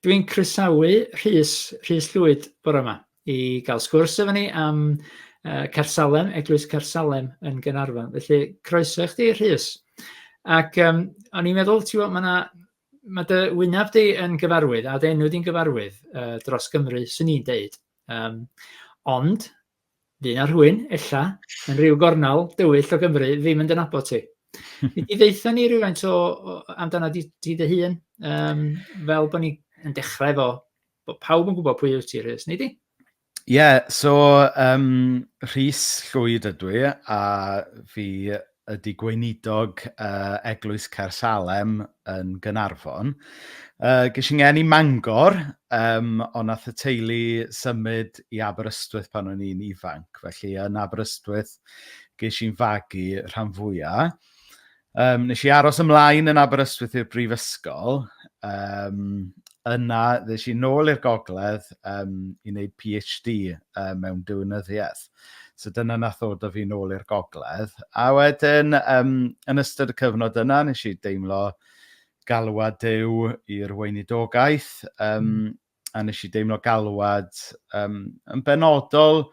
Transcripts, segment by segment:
Dwi'n croesawu Rhys, Rhys Llwyd bore yma i gael sgwrs efo ni am uh, Cersalem, Eglwys Cersalem yn Gynarfon. Felly, croeso i chdi, Rhys. Ac um, o'n i'n meddwl, ti'n gwybod, mae yna mae dy wynaf di yn gyfarwydd, a dy enw di'n gyfarwydd uh, dros Gymru, sy'n ni'n deud. Um, ond, Fy' 'na rhywun, ella, yn rhyw gornal dywyll o Gymru ddim yn dy nabod ti. Nei di ddeutha ni rywfaint o o amdana di ti dy hun yym fel bo' ni yn dechrau efo bo' pawb yn gwbod pwy wyt ti Rhys, nei di? Ie so yym Rhys Llwyd ydw i a fi ydy Gweinidog Eglwys Caersalem yn Gaernarfon. Ges i ngeni Mangor, um, ond nath y teulu symud i Aberystwyth pan o'n i'n ifanc, felly yn Aberystwyth ges i'n fagu rhan fwyaf. Um, nes i aros ymlaen yn Aberystwyth i'r brifysgol, um, yna ddes i nôl i'r gogledd um, i wneud PhD um, mewn diwynyddiaeth. So dyna nath ddod o fi nôl i'r gogledd. A wedyn, um, yn ystod y cyfnod yna, nes i deimlo galwad dew i'r weinidogaeth, um, mm. a nes i deimlo galwad um, yn benodol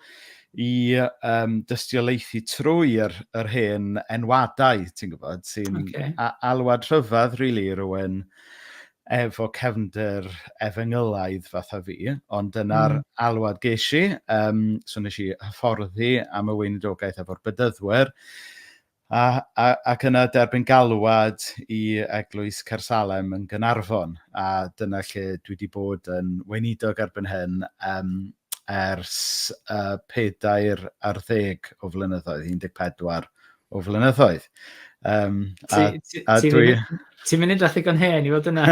i um, dystiolaethu trwy'r yr hen enwadau, ti'n gwybod, sy'n okay. alwad rhyfedd, really, rwy'n efo cefndir efengylaidd fatha fi, ond dyna'r alwad ges i. Um, so nes i hyfforddi am y weinidogaeth efo'r bydyddwyr. A, a, ac yna derbyn galwad i Eglwys Cersalem yn Gynarfon, a dyna lle dwi wedi bod yn weinidog erbyn hyn, um, ers y pedair ar ddeg o flynyddoedd, 14 o flynyddoedd. Um, a, ti, a ti dwi... Ti'n mynd edrych ddigon hen i fod yna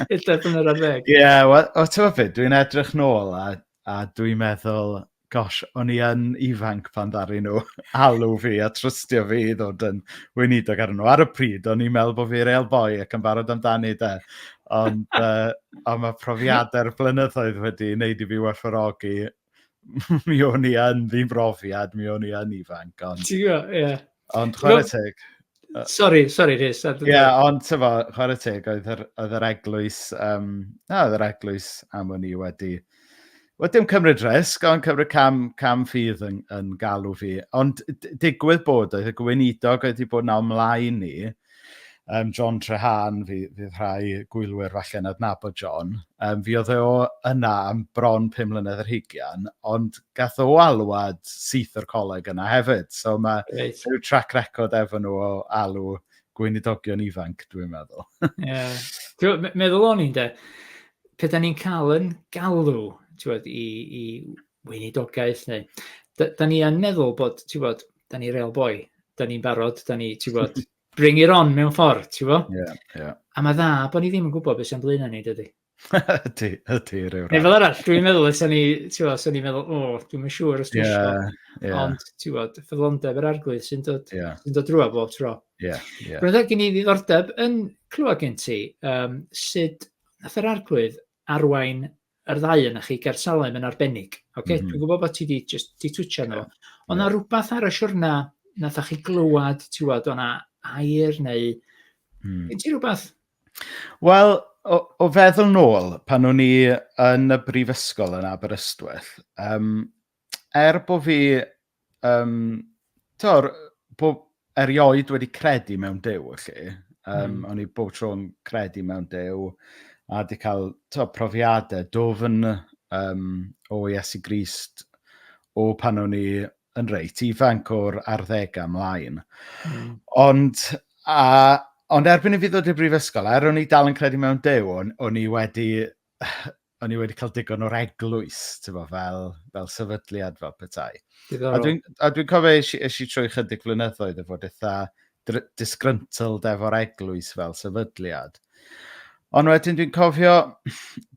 pedair blynedd ar ddeg. Ie, yeah, well, o ti'n meddwl beth, dwi'n edrych nôl a, a dwi'n meddwl, gosh, o'n i yn ifanc pan ddari nhw alw fi a trystio fi i ddod yn weinidog ar nhw. Ar y pryd, o'n i'n meddwl bod fi'r eil boi ac yn barod amdani da. Ond, uh, ond mae profiadau'r blynyddoedd wedi wneud i fi werthfawrogi. mi o'n i yn ddim brofiad, mi o'n i yn ifanc. Ond, Ti'n gwybod, ie. Yeah. Ond chwarae teg. Sorry, sorry, Rhys. Ie, yeah, ond ti'n fawr, chwarae teg, oedd yr, oedd yr eglwys, um, na, oedd yr eglwys am o'n i wedi Wel, dim cymryd risg, ond cymryd cam, cam ffydd yn, yn galw fi. Ond digwydd bod, oedd y gweinidog wedi bod na ymlaen ni, um, John Trehan, fi, fydd rhai gwylwyr falle yn adnabod John, um, fi oedd e o yna am bron 5 mlynedd yr hugian, ond gath o alwad syth o'r coleg yna hefyd. So mae right. rhyw track record efo nhw o alw gweinidogion ifanc, dwi'n meddwl. yeah. Meddwl o'n i'n de, pe da ni'n cael yn galw bod, i, i weinidogaeth neu... Da, da ni yn meddwl bod, ti'n bod, da ni real boi, da ni'n barod, da ni, ti'n bod, bring it on mewn ffordd, ti'n bod? Yeah, yeah. A mae dda bod ni ddim yn gwybod beth sy'n blaen ni, dydy. ydy, ydy, rhyw rhaid. Neu fel arall, dwi'n meddwl, os o'n i, ti'n meddwl, os o'n i'n meddwl, o, oh, dwi'n siŵr os dwi'n yeah, siŵr. Yeah. Ond, ti'n meddwl, ffyddlondeb yr arglwydd sy'n dod, yeah. sy dod drwy bob tro. Yeah, yeah. Roedd gen i ddiddordeb yn clywed gen ti um, sut nath yr arglwydd arwain yr ddau yna chi ger Salem yn arbennig. Okay? Mm -hmm. Dwi'n gwybod bod ti wedi just di twtio nhw. Yeah. Ond yeah. rhywbeth ar y siwrna nath chi glywed, ti'n meddwl, o'na air neu... Mm. Gen ti rhywbeth Wel, o o feddwl nôl, pan o'n i yn y brifysgol yn Aberystwyth, yym, er bo' fi, yym, tibod, bo- erioed wedi credu mewn Duw, felly, yym... Mm. ...o'n i bob tro yn credu mewn Duw, a 'di cael, tibod, profiadau dwfn, yym, o Iesu Grist, o pan o'n i yn reit ifanc o'r arddegau ymlaen. Mm. Ond, a, ond erbyn i fi ddod i'r brifysgol, er o'n i dal yn credu mewn dew, o'n, on i wedi... O'n i wedi cael digon o'r eglwys, tyfo, fel, fel sefydliad, fel petai. A dwi'n dwi cofio eisiau trwy chydig flynyddoedd o fod eitha disgruntled efo'r eglwys fel sefydliad. Ond wedyn dwi'n cofio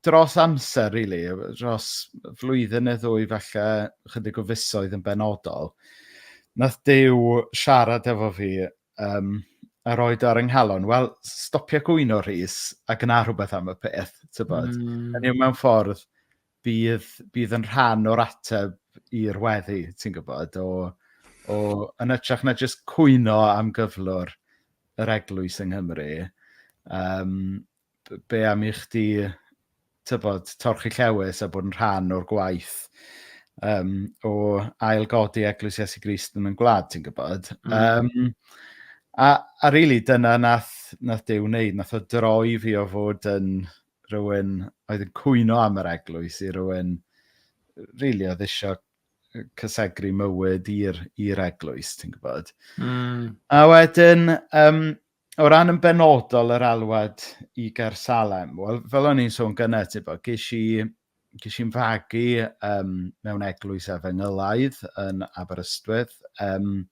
dros amser, really, dros flwyddyn neu ddwy falle, chydig o fusoedd yn benodol, nath Dyw siarad efo fi um, a roi ar yng nghalon, wel, stopio gwyno rhys a gna rhywbeth am y peth, ti'n bod. Mm. Yn yw mewn ffordd, bydd bydd yn rhan o'r ateb i'r weddi, ti'n gwybod, o o... yn hytrach na jyst cwyno am gyflwr yr eglwys yng Nghymru, yym b- be am i chdi, tybod, torchi llewys a bod yn rhan o'r gwaith yym o ail-godi Eglwys Iesu Grist yn ein gwlad, ti'n gwybod. Mm. Um, a, a rili, really, dyna nath, nath Dew wneud, nath o droi fi o fod yn rhywun oedd yn cwyno am yr eglwys i rhywun really oedd eisiau cysegru mywyd i'r eglwys, ti'n gwybod. Mm. A wedyn, um, o ran yn benodol yr alwad i Gersalem, wel, fel o'n i'n sôn gyna, ti bod, ges i ges i'n fagu um, mewn eglwys efengylaidd yn Aberystwyth. Um,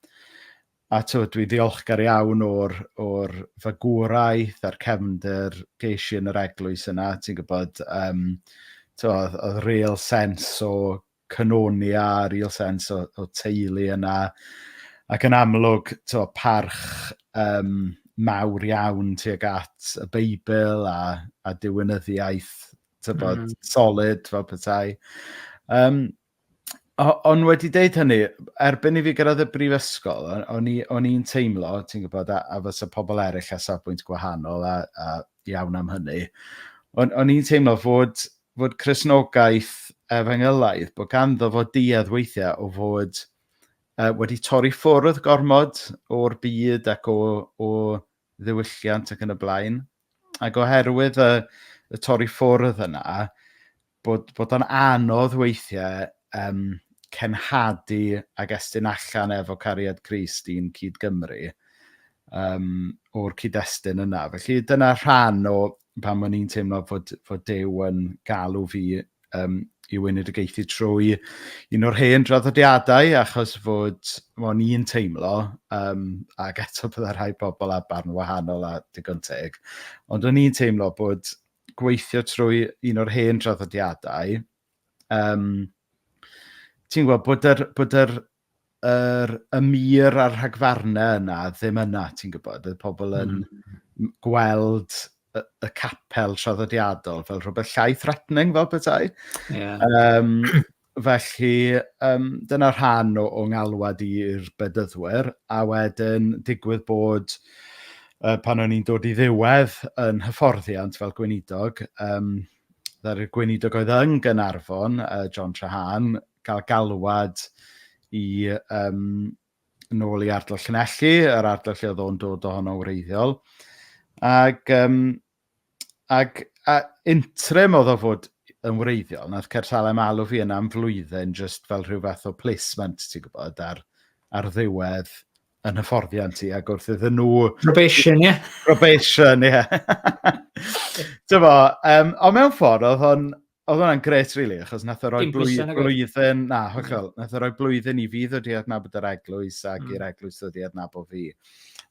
A tibod, dwi'n ddiolchgar iawn o'r, o'r fagwraeth a'r cefnder geisio yn yr eglwys yna, ti'n gwybod. Um, oedd, oedd real sens o cynoni a real sens o, o teulu yna. Ac yn amlwg, to, parch um, mawr iawn tuag at y Beibl a, a diwynyddiaeth tybod, mm. solid fel petai. Um, Ond wedi dweud hynny, erbyn i fi gyrraedd y brifysgol, o'n i'n teimlo, ti'n gwybod, a, a fysa pobl eraill â safbwynt gwahanol a, a iawn am hynny, o'n, o'n i'n teimlo fod, fod Cresnogaeth Efengylaidd, bod ganddo fod duedd weithiau o fod uh, wedi torri ffwrdd gormod o'r byd ac o, o ddiwylliant ac yn y blaen. Ac oherwydd y y torri ffwrdd yna, bod bod o'n anodd weithiau yym cenhadu ac estyn allan efo cariad Crist i'n cyd-Gymru yym o'r cyd-destun yna. Felly dyna rhan o pam o'n i'n teimlo fod fod Duw yn galw fi um, i weinidogaethu trwy un o'r hen draddodiadau achos fod o'n i'n teimlo um, ac eto byddai rhai pobl a barn wahanol a digon teg ond o'n i'n teimlo bod gweithio trwy un o'r hen draddodiadau um, ti'n gwybod bod yr, bod yr yr y mur a'r rhagfarnau yna ddim yna, ti'n gwybod. Oedd pobl yn mm. gweld y, y capel traddodiadol fel rhywbeth llai threatening fel petai. Yeah. Um, felly, um, dyna rhan o, o ngalwad i'r bedyddwyr, a wedyn digwydd bod uh, pan o'n i'n dod i ddiwedd yn hyfforddiant fel gweinidog, um, ddaru'r gweinidog oedd yn Gynarfon, uh, John Trahan, cael galwad i um, nôl i ardal Llanelli, yr ardal lle oedd o'n dod ohono wreiddiol. Ac, um, ac a interim oedd o fod yn wreiddiol, nath Cersalem alw fi yna am flwyddyn just fel rhyw fath o placement, ti'n gwybod, ar, ar ddiwedd yn hyfforddiant ti, ac wrth iddyn nhw... Probation, ie. Yeah. Probation, ie. Yeah. Dyma, um, ond mewn ffordd, oedd o'n Oedd hwnna'n gret, really, achos nath o roi blwyddyn, blwyddyn na, hollol, nath o roi blwyddyn i fi ddod i adnabod yr eglwys ac mm. i'r eglwys ddod i adnabod fi.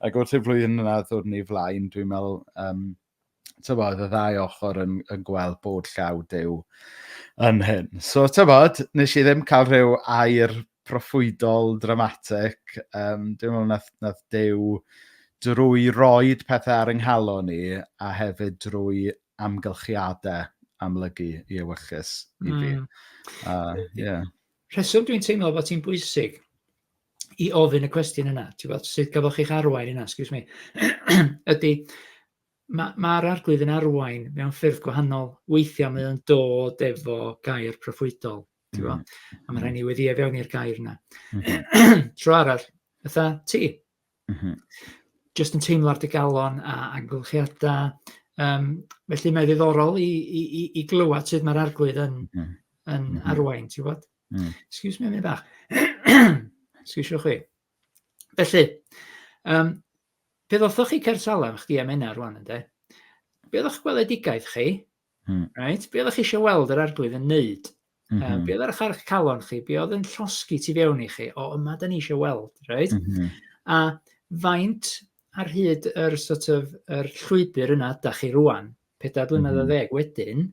Ac wrth i'r flwyddyn yna ddod ni flaen, dwi'n meddwl, um, tyfod, y ddau ochr yn, yn gweld bod llaw dew yn hyn. So, tyfod, nes i ddim cael rhyw air proffwydol, dramatic, um, dwi'n meddwl nath, nath dew drwy roed pethau ar ynghalon ni a hefyd drwy amgylchiadau amlygu i ewyllys i fi. Mm. Uh, yeah. Rheswm dwi'n teimlo bod ti'n bwysig i ofyn y cwestiwn yna, ti'n bod, sut gafoch chi'ch arwain yna, excuse me, ydy, mae'r ma, ma arglwydd yn arwain mewn ffyrdd gwahanol. Weithiau mae o'n dod efo gair proffwydol, ti'n bod, mm. a mae rhaid ni wedi efewn i'r gair yna. Mm. Tro arall, ytha, ti, Mm -hmm. Just yn teimlo ar dy galon a amgylchiadau. Um, felly mae'n ddiddorol i, i, i, i glywed sut mae'r arglwydd yn, mm -hmm. yn mm -hmm. arwain, ti'n bod? Mm. Excuse me, mi bach. Excuse chi. Felly, um, pe ddothoch chi Cersalem, chdi am enna rwan, ynddo? Be oedd o'ch gweledigaeth chi? Hmm. Right? Be oeddech chi eisiau weld yr arglwydd yn neud? Mm -hmm. um, be oedd ar eich calon chi? Be oedd yn llosgi ti fewn i chi? O, yma da ni eisiau weld, right? Mm -hmm. A faint ar hyd yr, sort of, yr llwybr yna da chi rwan, pedair blynedd mm -hmm. a mhm. ddeg wedyn,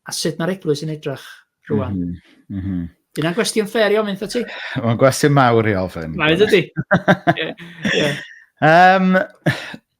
a sut mae'r eglwys yn edrych rwan? Mm -hmm. Mm -hmm. Dyna gwestiwn ffer i ofyn, ti? Mae'n gwestiwn mawr i ofyn. Mae'n dydy. yeah. yeah. Um,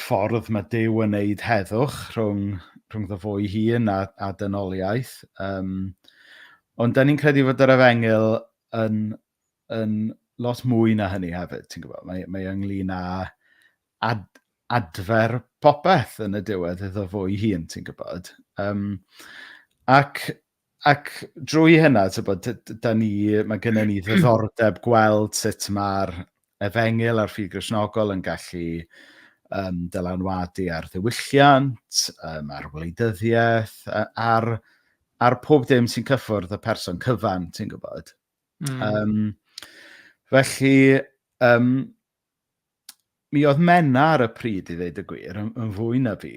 ffordd mae Duw yn wneud heddwch rhwng, rhwng ddo fo'i hun a, a dynoliaeth. Um, ond da ni'n credu fod yr efengyl yn, yn lot mwy na hynny hefyd, ti'n gwybod. Mae, mae ynglyn â ad, adfer popeth yn y diwedd iddo fo'i hun, ti'n gwybod. Um, ac Ac drwy hynna, tibod, d- d- dan ni... mae gennyn ni ddiddordeb gweld sut mae'r efengyl a'r ffydd Gristnogol yn gallu yym dylanwadu ar ddiwylliant, yym ar wleidyddiaeth, a- ar ar pob dim sy'n cyffwrdd y person cyfan, ti'n gwybod. Mm. Yym, felly, yym, Mi oedd Menna ar y pryd, i ddeud y gwir, yn, yn fwy na fi.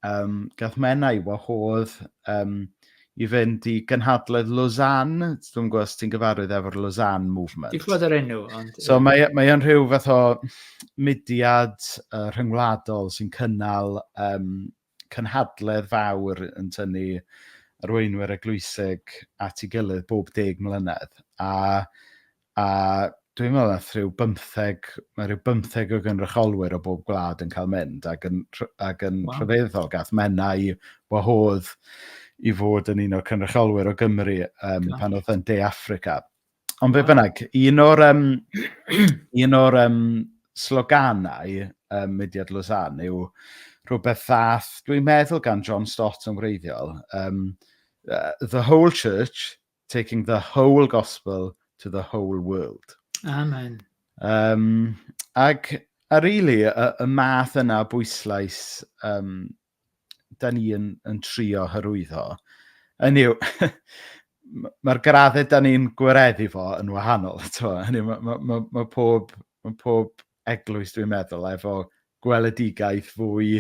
Um, gath Menna i wahodd um, i fynd i gynhadledd Lausanne. Dwi'n gwybod os ti'n gyfarwydd efo'r Lausanne Movement. Dwi'n gwybod yr enw, ond... So mae, mae o'n rhyw fath o mudiad uh, rhyngwladol sy'n cynnal um, cynhadledd fawr yn tynnu arweinwyr eglwysig at ei gilydd bob deg mlynedd, a, a dwi'n meddwl nath rhyw bymtheg, mae rhyw bymtheg o gynrychiolwyr o bob gwlad yn cael mynd, ac yn, ac yn wow. rhyfeddol, gath menau wahodd i fod yn un o'r cynrychiolwyr o Gymru um, pan oedd yn De Africa. Ond be bynnag, un o'r, um, un o'r um, sloganau um, Mudiad Lausanne yw rhywbeth ddath, dwi'n meddwl gan John Stott yn wreiddiol, um, uh, the whole church taking the whole gospel to the whole world. Amen. Um, ac a rili, really, y, y math yna bwyslais um, da ni yn, yn trio hyrwyddo, yn yw, mae'r graddau da ni'n gwareddu fo yn wahanol. Hynny, mae, mae, mae, mae pob, mae pob eglwys dwi'n meddwl efo gweledigaeth fwy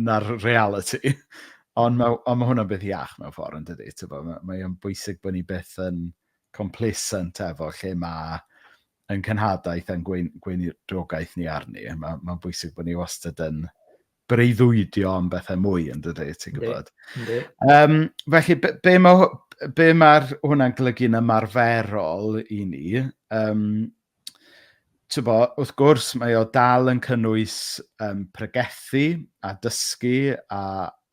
na'r reality. Ond mae, ond mae hwnna'n beth iach mewn ffordd yn dydy. Mae, mae o'n bwysig bod ni beth yn complacent efo lle mae yn cynhadaeth a'n gwein, gweinidogaeth ni arni. Mae, mae'n bwysig bod ni wastad yn breuddwydio am bethau mwy, yn dydy, ti'n gwybod. Ynddi. Um, felly, be, be mae be ma hwnna'n golygu'n ymarferol i ni? Um, Tybo, wrth gwrs, mae o dal yn cynnwys um, pregethu a dysgu a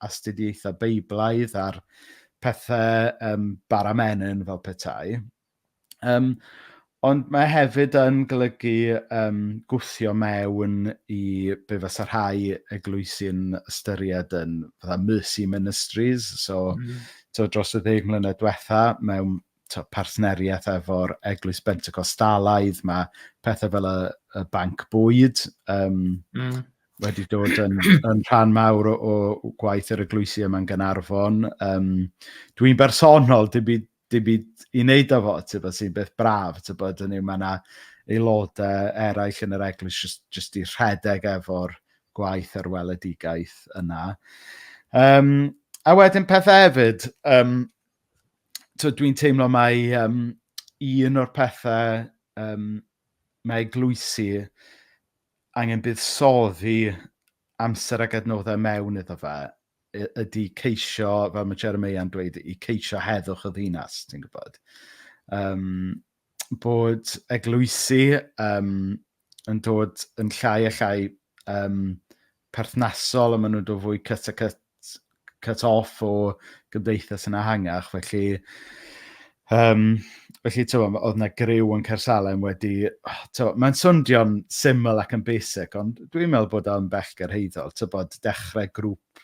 astudiaethau beiblaidd a'r pethau um, baramenyn fel petai. Yym ond mae hefyd yn golygu yym gwthio mewn i be fysa rhai eglwysi'n ystyried yn fatha mercy ministries. So mm. tibod, dros y ddeg mlynedd diwetha, mewn tibod, partneriaeth efo'r Eglwys Bentecostalaidd, mae pethau fel y, y banc bwyd um, mm. wedi dod yn, yn rhan mawr o, o gwaith yr eglwysi yma'n Gynarfon. Um, dwi'n bersonol, dim byd dim byd i wneud â fo, tybed, sy'n beth braf, tybed, hynny yw, mae yna aelodau eraill yn yr eglwys jyst, jyst i rhedeg efo'r gwaith a'r weledigaeth yna. Um, a wedyn pethau hefyd, um, dwi'n teimlo mai um, un o'r pethau um, mae eglwysi angen buddsoddi amser ac adnoddau mewn iddo fe ydy ceisio, fel mae Jeremiah yn dweud, i ceisio heddwch y ddinas, ti'n gwybod. Um, bod eglwysi um, yn dod yn llai a llai um, perthnasol a maen nhw'n dod fwy cut a cut, cut off o gymdeithas yn ahangach. Felly, Yym, felly tibod, oedd 'na griw yn Caersalem wedi... tibod, mae'n swnio'n syml ac yn basic, ond dwi'n meddwl bod o yn bell gyrhaeddol, tibod, dechrau grŵp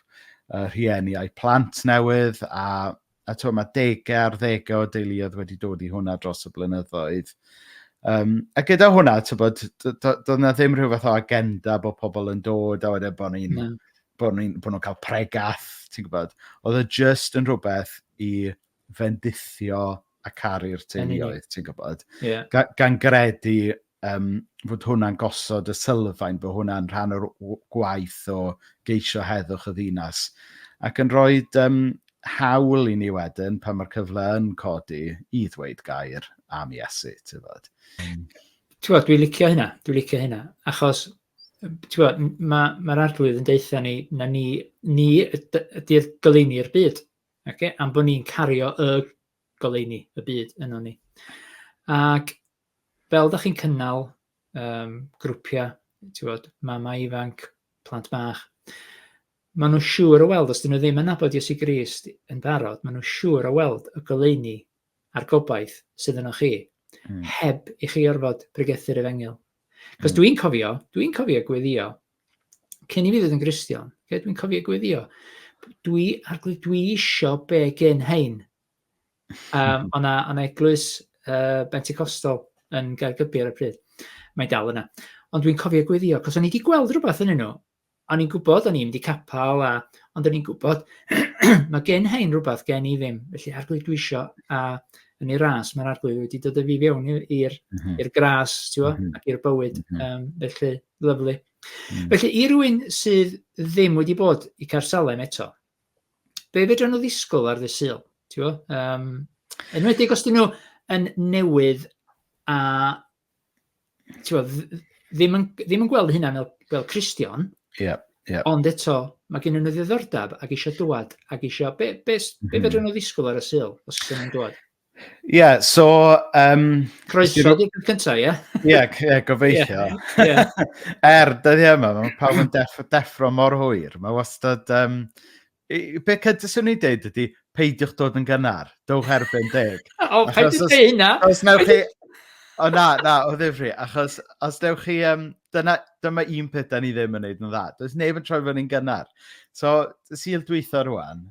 yy rhieni a'u plant newydd, a a tibod, mae degau ar ddegau o deuluoedd wedi dod i hwnna dros y blynyddoedd. Yym, a gyda hwnna, tibod, do- do- doedd 'na ddim rhyw fath o agenda bod pobl yn dod a wedyn bod ni'n... Na. ...bod ni'n... bod nhw'n cael pregeth, ti'n gwybod. Oedd o jyst yn rhywbeth i fendithio a caru'r teuluoedd, ti'n gwybod? Yeah. Ga, gan gredu um, fod hwnna'n gosod y sylfaen, bod hwnna'n rhan o'r gwaith o geisio heddwch y ddinas. Ac yn rhoi um, hawl i ni wedyn, pan mae'r cyfle yn codi, i ddweud gair am Iesu, ti'n fod. Mm. Ti'n fod, dwi'n licio hynna, dwi'n licio hynna, achos mae'r ma, arglwydd yn deutha ni, na ni, ni ydy'r goleini'r byd. Oce, am bod ni'n cario y goleuni, y byd yno ni. Ac fel da chi'n cynnal um, grwpiau, ti'n bod, mamau ifanc, plant bach, maen nhw'n siŵr o weld, os dyn nhw ddim yn nabod Iesu Grist yn barod, maen nhw'n siŵr o weld y goleuni a'r gobaith sydd yno chi, mm. heb i chi orfod pregethu'r efengyl. Cos mm. dwi'n cofio, dwi'n cofio gweddio cyn i fi fod yn Gristion, okay, dwi'n cofio gweddio, dwi, arglwydd, dwi isio be gen hein. Um, o'na, ona eglwys uh, Benticostal yn Gaergybi ar y pryd. Mae dal yna. Ond dwi'n cofio gweddio, cos o'n i wedi gweld rhywbeth yn nhw. O'n i'n gwybod, o'n i'n mynd i capal, a, ond o'n i'n gwybod, mae gen hein rhywbeth gen i ddim. Felly arglwydd dwi isio, a yn ei ras, mae'r arglwydd wedi dod o fi fewn i'r mm -hmm. gras, ti'n mm -hmm. ac i'r bywyd. Mm -hmm. um, felly, Lyfli. Mm. Felly, i rywun sydd ddim wedi bod i Carsalem eto, be fedra nhw ddisgwyl ar ddydd Sul? Ti'n gwybod? Um, enwedig os dyn nhw yn newydd a ti'n gwybod, ddim yn, ddim yn gweld hynna fel, fel Christian, yeah, yeah. ond eto, mae gen nhw ddiddordeb ac eisiau dwad ac eisiau, be, be, be mm. fedra nhw ddisgwyl ar y Sul os ydyn nhw'n dwad? Ie, so... Um, Croeso di peth cyntaf, ie? Ie, ie, gobeithio. Yeah. er, dyddi yma, mae pawb yn def, deffro mor hwyr. Mae wastad... Um, be cydys swn i'n deud ydy, peidiwch dod yn gynnar. Dowch erbyn deg. o, pa'n ti'n dweud hynna? Os newch chi... O na, na, o ddifri. Achos os newch chi... Um, dyna, dyma un peth da ni ddim yn neud yn dda. Does neb yn troi fyny'n gynnar. So, syl dwytho rwan,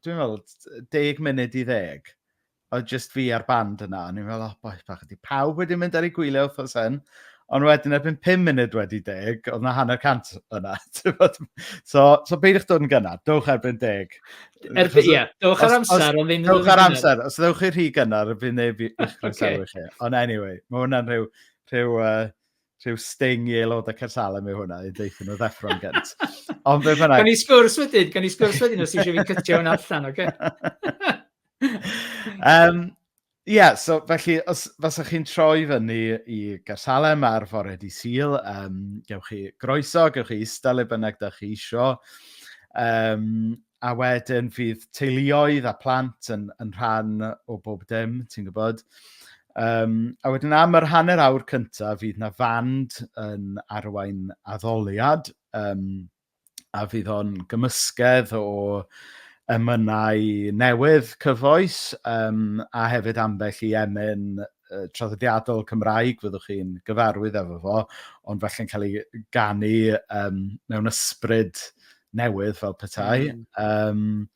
dwi'n meddwl, deg munud i ddeg, oedd just fi a'r band yna, o'n i'n meddwl, oh, boi bach, ydy pawb wedi mynd ar ei gwylio wrthos hyn, ond wedyn erbyn 5 munud wedi deg, oedd na hanner cant yna. so, so beidiwch dod yn gynnar, dewch erbyn deg. Erbyn, ie, yeah, dewch ar amser, ond ddim yn Dewch ar amser, os ddewch chi rhy gynnar, bydd neb i'ch croesawu chi. Ond anyway, mae hwnna'n rhyw, rhyw uh, rhyw sting i aelodau Cersalem yw hwnna, i ddeithio nhw ddeffro'n gynt. Ond fe fynnag... Gan i sgwrs wedyn, gan i sgwrs wedyn os eisiau fi cytio hwnna allan, oce? Okay? um, Ie, yeah, so felly, os faswch chi'n troi fyny i Gersalem ar fore di Sil, um, gewch chi groeso, gewch chi eistedd le bynnag da chi isio. Um, A wedyn fydd teuluoedd a phlant yn, yn rhan o bob dim, ti'n gwybod. Um, a wedyn am yr hanner awr cyntaf fydd na fand yn arwain addoliad um, a fydd o'n gymysgedd o emynau newydd cyfoes um, a hefyd ambell i emyn uh, traddodiadol Cymraeg fyddwch chi'n gyfarwydd efo fo, ond felly'n cael ei ganu um, mewn ysbryd newydd fel petai. Mm. Um,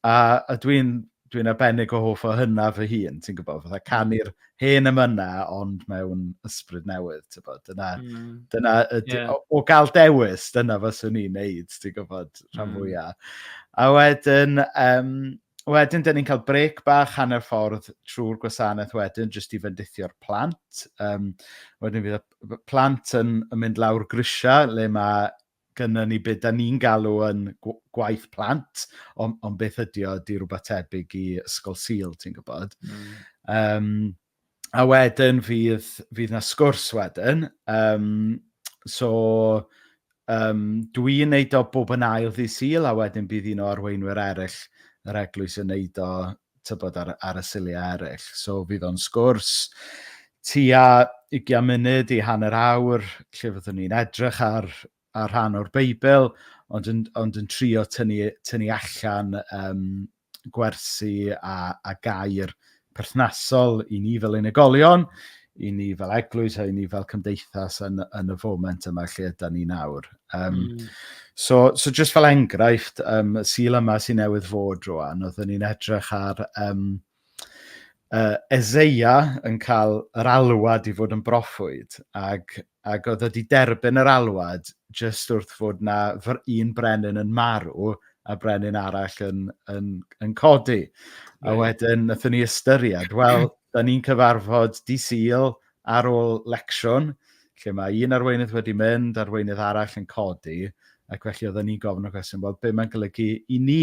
a a dwi'n dwi arbennig o hoff o hynna fy hun, ti'n gwybod, fatha canu'r hen ymyna ond mewn ysbryd newydd, ti'n gwybod, dyna, mm. dyna y, yeah. o, o gael dewis, dyna fyswn i'n neud, ti'n gwybod, rhan mm. fwyaf. A wedyn, um, Wedyn, dyn ni'n cael brec bach hanner ffordd trwy'r gwasanaeth wedyn, jyst i fendithio'r plant. Um, wedyn fydd y plant yn, yn mynd lawr grisiau le mae gynno ni be dan ni'n galw yn gwaith plant, ond, ond beth ydy o, ydy rhywbeth tebyg i Ysgol Sul, ti'n gwybod. Mm. Um, a wedyn fydd, fydd na sgwrs wedyn. Um, so, um, dwi'n neud o bob yn ail ddi Sul, a wedyn bydd un o arweinwyr eraill yr eglwys yn neud o tybod, ar, ar y siliau eraill. So fydd o'n sgwrs tua 20 munud i hanner awr lle fyddwn ni'n edrych ar, ar rhan o'r Beibl, ond yn, ond yn trio tynnu, tynnu allan um, gwersi a, a gair perthnasol i ni fel unigolion, i ni fel eglwys a i ni fel cymdeithas yn, yn y foment yma lle ydy ni nawr. Um, mm. so, so just fel enghraifft, um, y sil yma sy'n newydd fod rwan, oeddwn ni'n edrych ar um, uh, Ezeia yn cael yr alwad i fod yn broffwyd, ac ac oedd o 'di derbyn yr alwad jyst wrth fod 'na fr- un brenin yn marw a brenin arall yn yn yn codi. A Reit. wedyn nathon ni ystyried, wel, 'dan ni'n cyfarfod Di Sul ar ôl lecsiwn, lle mae un arweinydd wedi mynd, arweinydd arall yn codi, ac felly oedden ni'n gofyn y cwestiwn, wel, be' mae'n golygu i ni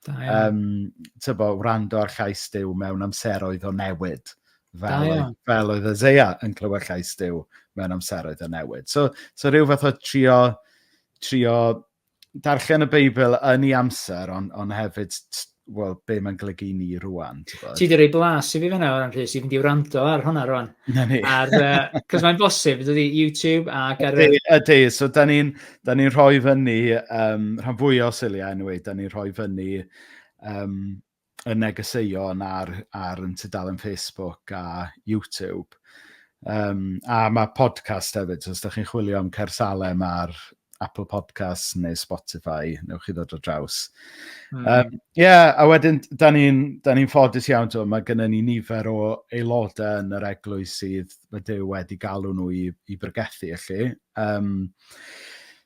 Da iawn. Um, tybo, wrando ar llais Dyw mewn amseroedd o newid. Fel, da iawn. Fel oedd Isaiah yn clywed llais Dyw mewn amseroedd o newid. So, so rhyw fath o trio, trio darllen y Beibl yn ei amser, ond on hefyd wel, be mae'n golygu i ni rwan. Ti wedi rhoi blas i fi fyna o ran Rhys, i fynd i wrando ar hwnna rwan. Na ni. Ar, uh, cos mae'n bosib, dydy YouTube ac ar... Ydy, ydy. so da ni'n Da ni'n rhoi fyny, um, rhan fwy o siliau yn anyway, da ni'n rhoi fyny um, y negeseuon ar, ar yn tudalen Facebook a YouTube. Um, a mae podcast hefyd, so os da chi'n chwilio am Cersalem ar Apple Podcasts neu Spotify, neu chi ddod o draws. Ie, mm. um, yeah, a wedyn, da ni'n ni, ffodus iawn, to, mae gennym ni nifer o aelodau yn yr eglwys sydd, mae Dyw wedi galw nhw i, i brygethu, felly. Um,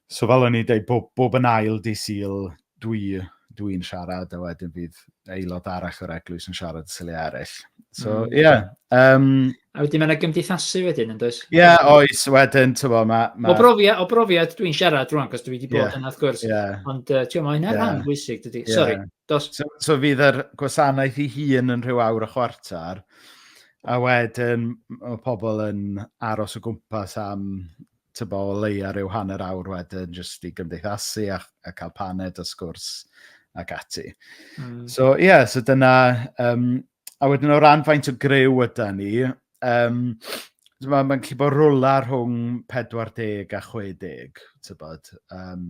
so fel o'n i'n dweud, bob, bob yn ail di syl dwi, dwi'n siarad, a wedyn fydd aelod arall o'r eglwys yn siarad y syliau eraill. So, mm. ie. Mm. Yeah, um, a wedyn mae'n gymdeithasu wedyn, yn does? Ie, yeah, oes, wedyn, ti'n bod, mae... Ma... O, brofiad, o brofiad dwi'n siarad rwan, cos dwi wedi bod yeah, yna, wrth gwrs. Yeah. Ond, uh, ti'n bod, mae'n yeah. rhan bwysig, dydy. Yeah. Sorry, dos. So, so fydd yr gwasanaeth i hun yn rhyw awr a chwarter, A wedyn m- mae pobl yn aros o gwmpas am tibod o leiaf ryw hanner awr wedyn jyst i gymdeithasu a a cael paned a sgwrs ac ati. Mm. So ie, yeah, so dyna... Um, a wedyn o ran faint o gryw yda ni, um, mae'n ma gallu bod rwla rhwng 40 a 60, tybod. Um,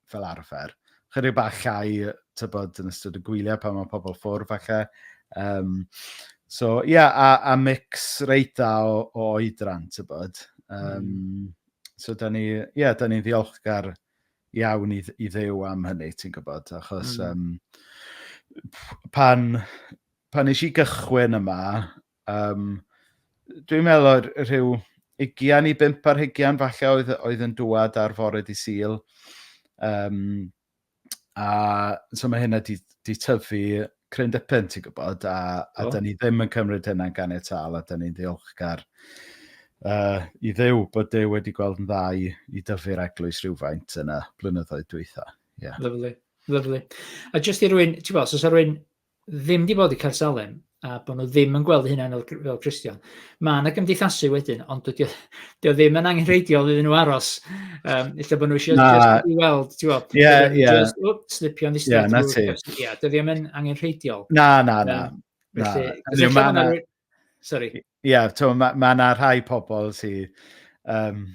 fel arfer. Chydig bach llai, tybod, yn ystod y gwyliau pan mae pobl ffwrdd falle. Um, so, ie, yeah, a, a mix reit dda o, o oedran, tybod. Um, mm. So, da ni, ie, yeah, da ni'n ddiolchgar iawn i, i ddew am hynny, ti'n gwybod, achos mm. um, pan, pan eisiau gychwyn yma, Um, dwi'n meddwl o'r rhyw ugian i bimp ar hugian falle oedd, oedd yn dwad ar fore di syl. Um, a so mae hynna di, di tyfu cryn dipyn, ti'n gwybod, a, a oh. da ni ddim yn cymryd hynna'n gan ei tal, a da ni'n ddiolchgar uh, i ddew bod dew wedi gweld yn dda i, i dyfu'r eglwys rhywfaint yna blynyddoedd dwytha. Yeah. Lyflu, lyflu. A jyst i rwy'n, ti'n bod, os oes rwy'n ddim 'di bod i Caer Salem a bod nhw ddim yn gweld eu hunain fel, fel Cristion. Mae yna gymdeithasu wedyn, ond dydy o, dydy o ddim yn angenrheidiol iddyn nhw aros. Um, illa bod nhw eisiau Na. just i weld, ti'n gweld? Ie, Wedyn ie. Just, wp, slipio yn ddistaw. Ie, 'na ti. Ie, dydy o ddim yn angenrheidiol. Na, na, na. Yym, Na. Felly, Hynny yw, ma' 'na- Sorry. Ie, yeah, so, mae ma yna rhai pobl sydd... Um,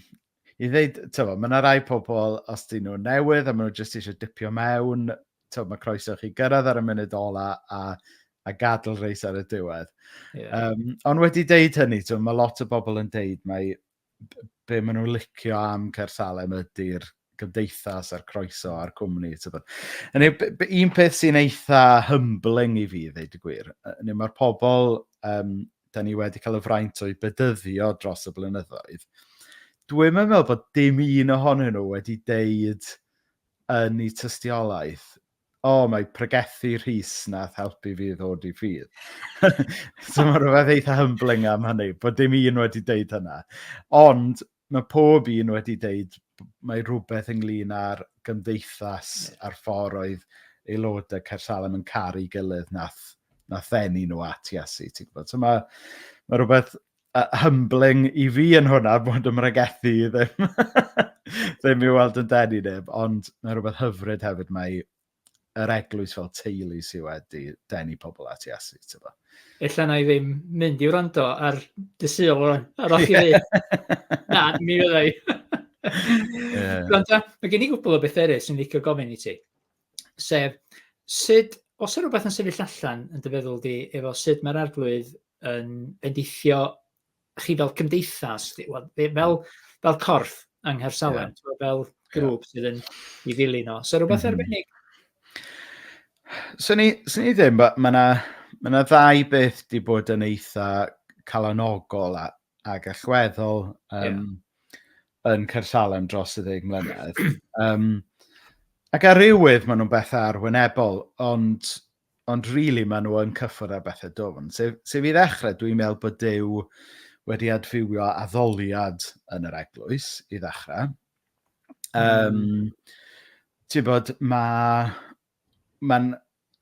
I ddeud, tyfo, mae yna rhai pobl, os dyn nhw'n newydd a maen nhw jyst eisiau dipio mewn, tyfo, mae croeso chi gyrraedd ar y munud ola a, a gadl reis ar y diwedd. Yeah. Um, ond wedi deud hynny, tyfo, mae lot o bobl yn deud mae be maen nhw'n licio am Caer Salem ydy'r gymdeithas a'r croeso a'r cwmni. Yn ei, un peth sy'n eitha humbling i fi, ddeud y gwir, yn ei mae'r pobl um, da ni wedi cael y fraint o'i bedyddio dros y blynyddoedd, dwi'n meddwl bod dim un ohonyn nhw wedi deud yn ei tystiolaeth O, mae pregethu Rhys nath helpu fi ddod i ffydd. so mae rhywbeth eitha humbling am hynny, bod dim un wedi deud hynna. Ond mae pob un wedi deud mae rhywbeth ynglyn â'r gymdeithas yeah. a'r ffordd oedd aelodau Cersalem yn caru gilydd nath, nath ddenu nhw at Iesu. Ti'n gwybod? So mae, mae rhywbeth uh, humbling i fi yn hwnna bod ym mhregethu ddim, ddim i weld yn denu neb, ond mae rhywbeth hyfryd hefyd mae yr eglwys fel teulu sydd wedi denu pobl at Iesu. Tyfa. Ella na i ddim mynd i wrando ar dy syl rwan, ar o'ch i ddweud. Na, mi fyddai. yeah. Ond mae gen i gwbl o beth eraill sy'n licio gofyn i ti. sef sut, os yw rhywbeth yn sefyll allan yn dyfeddwl di, efo sut mae'r arglwydd yn endeithio chi fel cymdeithas, fel, fel, fel corff yng Nghersalem, yeah. fel grŵp yeah. sydd yn i ddilyn o. So rhywbeth mm -hmm. arbennig? So ni, so ni ddim, mae yna ma ddau beth di bod yn eitha calanogol a, ac allweddol um, yeah. yn Cersalem dros y ddeg mlynedd. um, ac ar rywydd maen nhw'n bethau arwynebol, ond, ond rili really maen nhw yn cyffwrdd ar bethau dofn. Sef, sef i ddechrau, dwi'n meddwl bod Dyw wedi adfywio addoliad yn yr eglwys i ddechrau. Um, mm. Ti'n bod, mae... Mae'n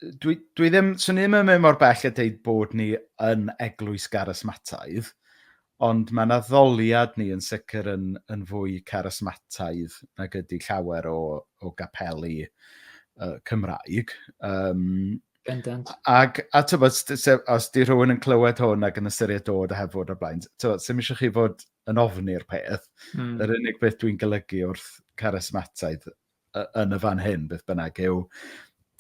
dwi, dwi ddim, swn i'n mynd mor bell a deud bod ni yn eglwys garysmataidd, ond mae'n addoliad ni yn sicr yn, yn fwy carysmataidd nag ydy llawer o, o gapeli uh, Cymraeg. Um, Bendant. Ac, a tybod, os di rhywun yn clywed hwn ac yn ystyried dod a hefod o blaen, tybod, sy'n eisiau chi fod yn ofni'r peth. Mm. Yr unig beth dwi'n golygu wrth carysmataidd yn y fan hyn, beth bynnag, yw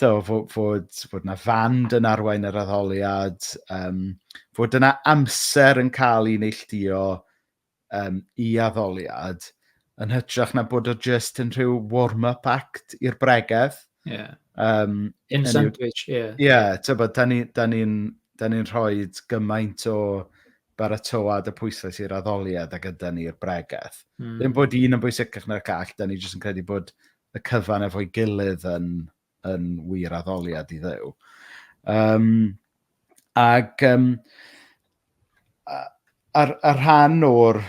do, fod, fod, fod yna fand yn arwain yr addoliad, um, fod yna amser yn cael ei neilltuo um, i addoliad, yn hytrach na bod o just yn rhyw warm-up act i'r bregeth. Yeah. Um, in sandwich, ie. Yeah. Ie, yeah, tybod, da ni'n ni, da ni, da ni rhoi gymaint o baratoad y pwyslais i'r addoliad a gyda ni i'r bregeth. Mm. Ddim bod un yn bwysicach na'r call, da ni jyst yn credu bod y cyfan efo'i gilydd yn, yn wir addoliad i ddew. Um, ac um, ar, ar rhan o'r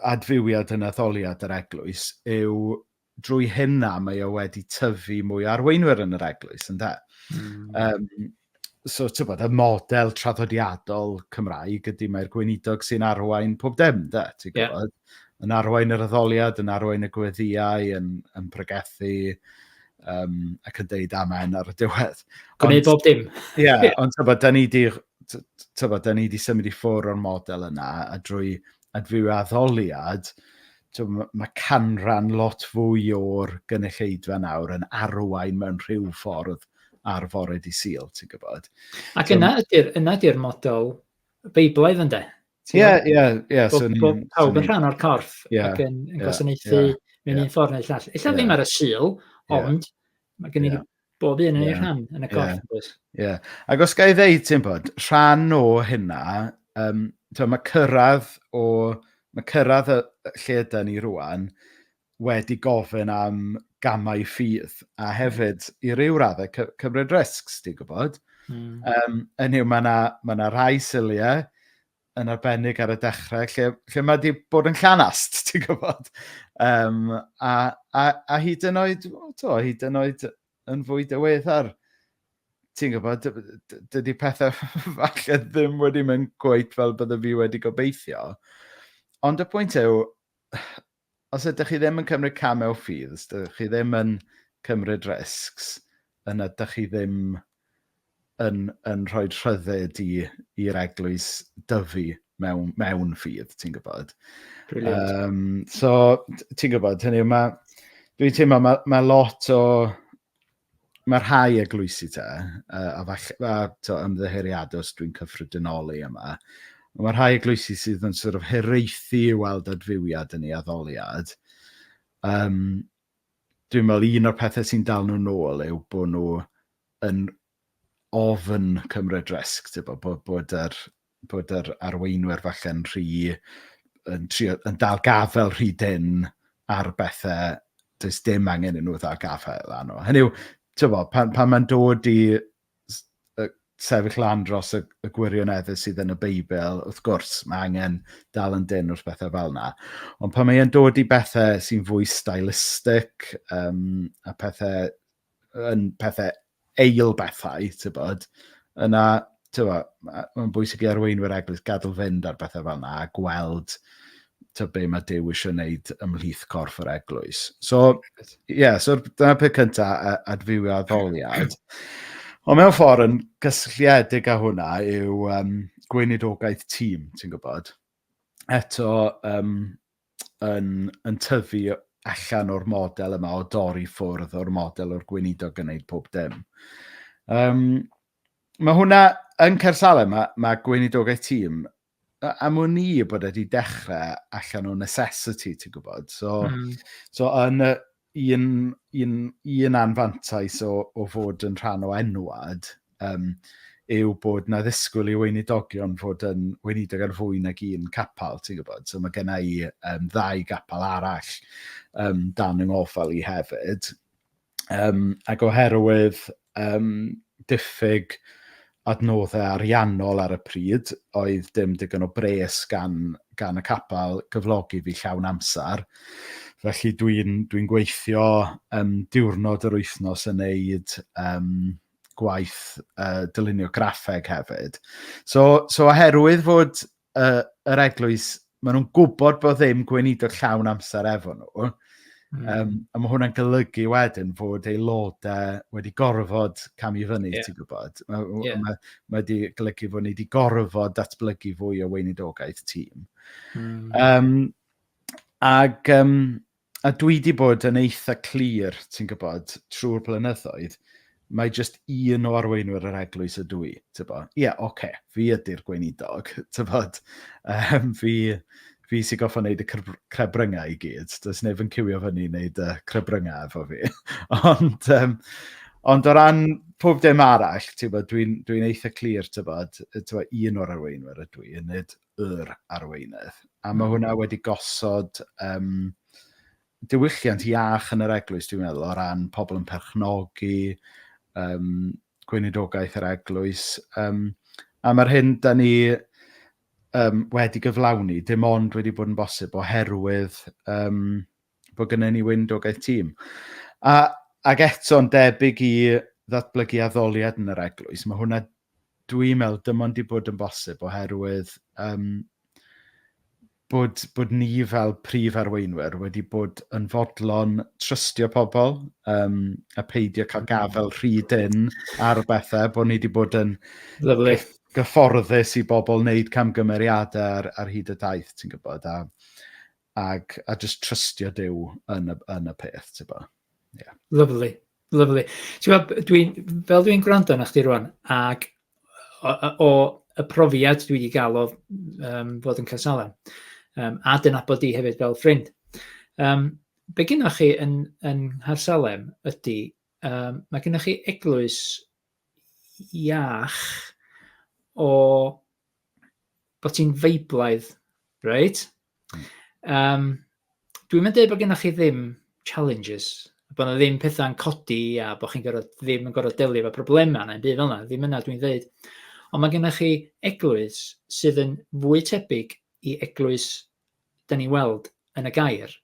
adfywiad yn addoliad yr eglwys yw drwy hynna mae o wedi tyfu mwy o arweinwyr yn yr eglwys, ynde? Mm. Um, so, ti'n bod, y model traddodiadol Cymraeg ydy mae'r gweinidog sy'n arwain pob dim, de, ti'n gwybod? Yeah. Yn arwain yr addoliad, yn arwain y gweddiau, yn, yn pregethu, um, ac yn deud amen ar y diwedd. Gwneud bob dim. Ie, yeah, ond ti'n bod, da ni wedi symud i ffwr o'r model yna, a drwy adfywio addoliad, tibod, mae canran lot fwy o'r gynulleidfa nawr yn arwain mewn rhyw ffordd ar fore di syl, ti'n gwybod. Ac yna ydy'r yna ydy'r model Beiblaidd ynde? Ie, ie, ie. Bod pawb yn rhan o'r corff ac yn, yn gwasanaethu mewn un ffordd neu llall. Ella ddim ar y syl, ond mae gen i Bob un yn yeah. ei rhan yn y corff, yeah. oes? Ie. Yeah. Ac os gael ei ddeud, ti'n bod, rhan o hynna, um, to, mae cyrraedd o... Mae cyrraedd y, lle yda ni rwan wedi gofyn am gamau ffydd, a hmm. hefyd i ryw raddau cy cymryd riscs, ti'n gwybod? Mm. Um, yn yw, mae yna ma, rhai syliau yn arbennig ar y dechrau, lle, lle mae wedi bod yn llanast, ti'n gwybod? Um, a, a, a hyd yn oed, to, hyd yn oed yn fwy dyweddar, ti'n gwybod, dydy pethau falle ddim wedi mynd gweith fel bydde fi wedi gobeithio. Ond y pwynt yw, Os ydych chi ddim yn cymryd camau o ffydd, os ydych chi ddim yn cymryd risgs, yna ydych chi ddim yn, yn rhoi rhyddid i'r eglwys dyfu mewn, mewn ffydd, ti'n gwybod. Um, so, ti'n gwybod, hynny yw, mae, dwi'n teimlo, mae, mae lot o, Mae rhai eglwysi te, uh, a falle, a to, ymddeheuriad os dwi'n cyffredinoli yma, ond mae rhai eglwysi sydd yn sort of heraethu i weld adfywiad yn ei addoliad. Um, dwi'n meddwl un o'r pethau sy'n dal nhw'n ôl yw bod nhw yn ofn cymryd risg, tibod, bod, bod, yr, bod yr arweinwyr falle'n rhy... yn, trio, yn dal gafael rhy dyn ar bethau does dim angen i nhw ddal gafael arno. Hynny yw, tibod, pan, pan mae'n dod i sefyll lan dros y, y gwirioneddau sydd yn y Beibl, wrth gwrs, mae angen dal yn dyn wrth bethau fel yna. Ond pan mae'n dod i bethau sy'n fwy stylistic um, a pethau yn pethau eil bethau, ti'n bod, yna, ti'n bod, mae'n bwysig i arweinwyr eglwys gadw fynd ar bethau fel yna a gweld to be mae Dyw eisiau wneud ymhlith corff yr eglwys. So, ie, yeah, so dyna peth cyntaf, adfywio addoliad. Ond mewn ffordd yn gysylltiedig â hwnna yw um, gweinidogaeth tîm, ti'n gwybod. Eto, um, yn, yn tyfu allan o'r model yma o dorri ffwrdd o'r model o'r gweinidog yn gwneud pob dim. Um, mae hwnna yn Cersalem, mae, mae gweinidogaeth tîm am wn i bod wedi dechrau allan o necessity, ti'n gwybod. So, mm. so yn, y, un, un, un anfantais o, o fod yn rhan o enwad um, yw bod na ddisgwyl i weinidogion fod yn weinidog ar fwy nag un capal, ti'n gwybod? So mae gen i um, ddau gapal arall um, dan yng ngofal i hefyd. Um, ac oherwydd um, diffyg adnoddau ariannol ar y pryd, oedd dim digon o bres gan gan y capel gyflogi fi llawn amser. Felly dwi'n dwi'n gweithio yym diwrnod yr wythnos yn wneud yym gwaith yy dylunio graffeg hefyd. So so oherwydd fod y, yr eglwys, maen nhw'n gwybod bod ddim gweinidog llawn amser efo nhw. Mm. Um, a mae hwnna'n golygu wedyn fod aelodau wedi gorfod cam i fyny, yeah. ti'n gwybod. Mae yeah. ma, ma wedi golygu fod ni wedi gorfod datblygu fwy o weinidogaeth tîm. Mm. Um, ac um, a dwi 'di bod yn eitha clir, ti'n gwybod, trwy'r blynyddoedd, mae jyst un o arweinwyr yr eglwys ydw i, ti'n gwybod. Ie, yeah, oce, okay, fi ydy'r gweinidog, ti'n gwybod. Um, fi, fi sy'n goffa wneud y crebryngau i gyd. Does neb yn cywio fyny i wneud y crebryngau efo fi. ond, um, ond o ran pob dim arall, ti'n gwybod, dwi'n dwi eitha clir, ti'n gwybod, un o'r arweinwyr ydw i, yn nid yr arweinydd, a mae hwnna wedi gosod yym diwylliant iach yn yr eglwys dwi'n meddwl o ran pobl yn perchnogi yym gweinidogaeth yr eglwys yym a mae'r hyn da ni yym wedi gyflawni dim ond wedi bod yn bosib oherwydd yym bod gennym ni weinidogaeth tîm. A ac eto'n debyg i ddatblygu addoliad yn yr eglwys, mae hwnna Dwi'n meddwl dim ond 'di bod yn bosib oherwydd yym bod bod ni fel prif arweinwyr wedi bod yn fodlon trystio pobl yym a peidio cael gafael rhy dynn ar bethau, bod ni wedi bod yn... Lyfli. ...gyfforddus i bobl wneud camgymeriadau ar ar hyd y daith ti'n gwybod a Ac, a jyst trystio Duw yn y, yn y peth, ti'n bo. Yeah. Lovely, lovely. Ti'n gweld, dwi, fel dwi'n gwrando na chdi rwan, ac o, o, y profiad dwi wedi gael o um, fod yn Casalen, um, a dyna bod di hefyd fel ffrind. Um, be gynnwch chi yn, yn Harsalem ydy, um, mae gynnwch chi eglwys iach o bod ti'n feiblaidd, reit? Hmm. Um, Dwi'n mynd dweud bod gennych chi ddim challenges, bod yna ddim pethau'n codi a bod chi'n gorfod, ddim yn gorfod delio efo problemau neu'n byd fel yna, ddim yna dwi'n dweud. Ond mae gennych chi eglwys sydd yn fwy tebyg i eglwys dyn ni'n weld yn y gair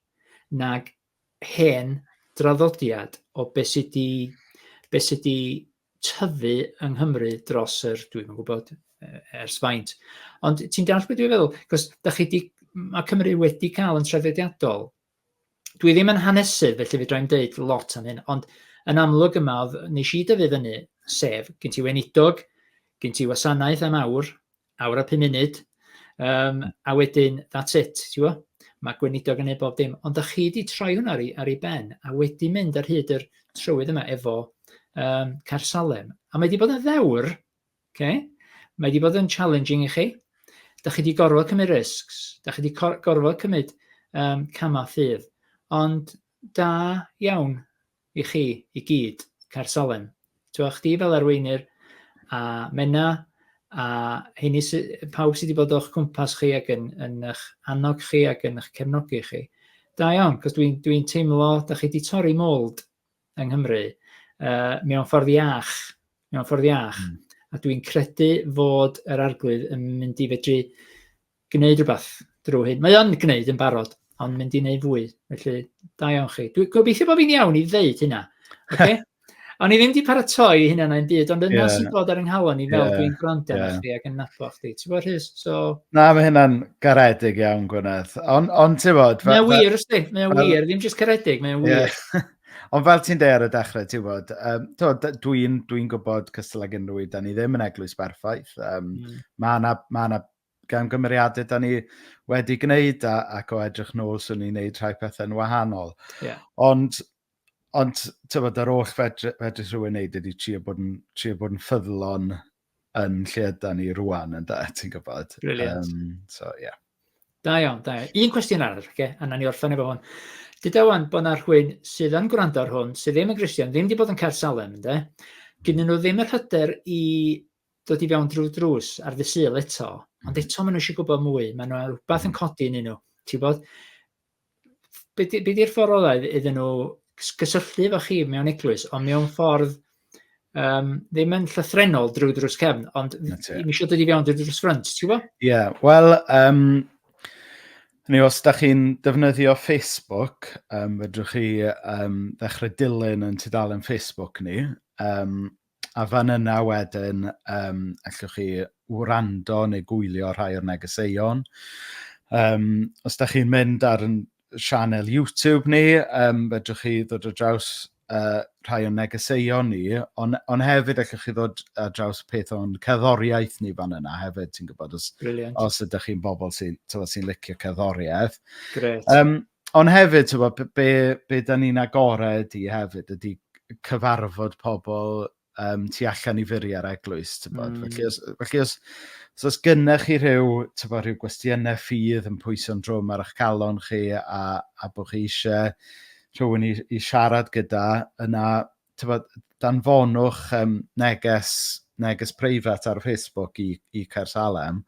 nag hen draddodiad o be sy 'di be sy 'di tyfu yng Nghymru dros yr dwi'm yn gwybod yy ers faint. Ond ti'n deall beth dwi'n feddwl? Cos da chi 'di ma' Cymru wedi cael yn traddodiadol. Dwi ddim yn hanesydd felly fedra i'm deud lot am hyn, ond yn amlwg yma oedd nes i dyfu fyny, sef gen ti weinidog, gen ti wasanaeth am awr, awr a pum munud, um, a wedyn, that's it, ti'n gwybod? Mae gweinidog yn ei bob dim. Ond da chi wedi troi hwnna ar ei, ar ei ben, a wedi mynd ar hyd yr trywydd yma efo um, Car Salem. A mae wedi bod yn ddewr, okay? mae wedi bod yn challenging i chi. Da chi wedi gorfod cymryd risks, da chi wedi gorfod cymryd um, camau ffydd. Ond da iawn, I chi i gyd, Caer Salem. T'wod chdi fel arweinyr a Menna a heini sy pawb sydd wedi bod o'ch cwmpas chi ac yn yn eich annog chi ac yn eich cefnogi chi. Da iawn, cos dwi'n dwi teimlo da chi wedi torri mold yng Nghymru uh, mewn ffordd iach, mewn ffordd iach. Mm. A dwi'n credu fod yr arglwydd yn mynd i fedru gwneud rhywbeth drwy hyn. Mae o'n gwneud yn barod, ond mynd i wneud fwy. Felly, da iawn chi. Dwi'n gobeithio bod fi'n iawn i ddeud hynna. Okay? O'n i ddim wedi paratoi hynna na'n byd, ond yna yeah. sy'n bod ar yng nghalon i fel yeah. dwi'n gwrando yeah. chdi ac yn nabod chdi. Ti'n bod Rhys? So... Na, mae hynna'n garedig iawn, Gwyneth. Ond on, ti'n bod... Mae'n wir, ysdi. Mae'n wir. Ddim jyst caredig, mae'n wir. Yeah. Ond fel ti'n deud ar y dechrau, ti'n bod, um, dwi'n dwi gwybod cystal ag unrhyw un, da ni ddim yn eglwys berffaith. Um, mm. Mae yna ma gamgymeriadau da ni wedi gwneud a, ac o edrych nôl, swn i'n gwneud rhai pethau'n wahanol. Yeah. Ond, ond tywed, yr oll fedrith fedri rhywun wneud ydy trio bod yn, trio bod yn ffyddlon yn lle yda ni rwan, yn da, ti'n gwybod. Brilliant. Um, so, yeah. Da iawn, da iawn. Un cwestiwn arall, okay? a na ni orffen efo hwn. Dyda wan bod na rhywun sydd yn gwrando ar hwn, sydd ddim yn Gristion, ddim wedi bod yn cael salem, ynddo? Gynnu nhw ddim yr hyder i dod i fewn drwy'r drws ar ddydd Sul eto, mm. ond eto maen nhw eisiau gwybod mwy, maen nhw rhywbeth yn mm. codi yn nhw, ti'n bod? Be di'r ffordd olau iddyn nhw gysylltu efo chi mewn eglwys, ond mewn ffordd um, ddim yn llythrenol drwy drws cefn, ond mi eisiau dod i fewn drwy drws ffrynt, ti'n gwybod? Ie, yeah, wel, um, Ni, os da chi'n defnyddio Facebook, um, fedrwch chi um, ddechrau dilyn yn tudalen Facebook ni. Um, A fan yna wedyn yym allwch chi wrando neu gwylio rhai o'r negeseuon. Yym os dach chi'n mynd ar ein sianel YouTube ni yym fedrwch chi ddod ar draws yy rhai o'n negeseuon ni ond ond hefyd allwch chi ddod ar draws peth o'n cerddoriaeth ni fan yna hefyd ti'n gwybod os... Brilliant. ...os ydych chi'n bobl sy'n tibod sy'n licio cerddoriaeth. Grêt. Yym. Ond hefyd tibod b- be be dan ni'n agored i hefyd ydy cyfarfod pobl yym tu allan i furiau'r eglwys tibod... mm. ...felly os felly os os oes gennych chi rhyw tibod rhyw gwestiynau ffydd yn pwyso'n drwm ar eich calon chi a a bod chi isie rhywun i i siarad gyda yna tibod, danfonwch yym neges neges preifat ar Facebook i i Caer Salem,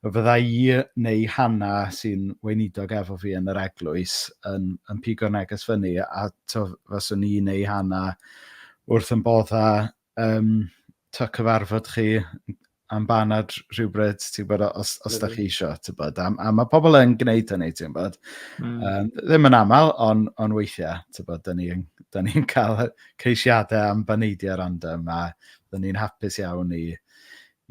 y fydda i neu Hannah sy'n weinidog efo fi yn yr eglwys yn yn pigo neges fyny a tibod faswn i neu Hannah wrth ein boddau yym tibod cyfarfod chi. am banad rhywbryd, ti'n gwybod, os, os da chi eisiau, ti'n gwybod. A, a mae pobl yn gwneud hynny, ti'n gwybod. Mm. Um, ddim yn aml, ond on weithiau, ti'n gwybod, da ni'n da ni cael ceisiadau am baneidiau random, a da ni'n hapus iawn i,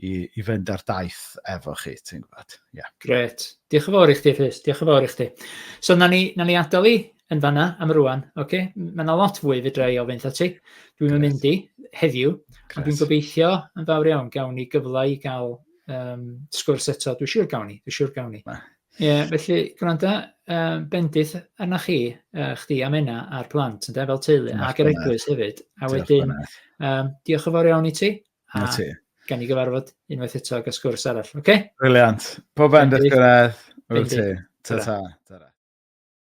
i, i fynd ar daith efo chi, ti'n gwybod. Yeah. Gret. Diolch yn fawr i chdi, Rhys. Diolch yn fawr i chdi. So, na ni, na ni adael i, yn fanna am rŵan, oce? Mae yna lot fwy fedra i ofyn wrtha ti. Dwi'm yn mynd i heddiw, ond dwi'n gobeithio yn fawr iawn gawn ni gyfle i gael um, sgwrs eto. Dwi'n siŵr gawn ni, dwi'n siŵr gawn ni. Ie, yeah, felly gwranda, um, bendith arna chi, uh, chdi a menna a'r plant, ynde, fel teulu, Mach ac yr eglwys hefyd. A wedyn, um, diolch yn fawr iawn i ti. A ti. gan ni gyfarfod unwaith eto ag sgwrs arall, oce? Okay? Briliant. Pob bendith, Gwredd. Wyt ti. Ta-ta. Ta-ta.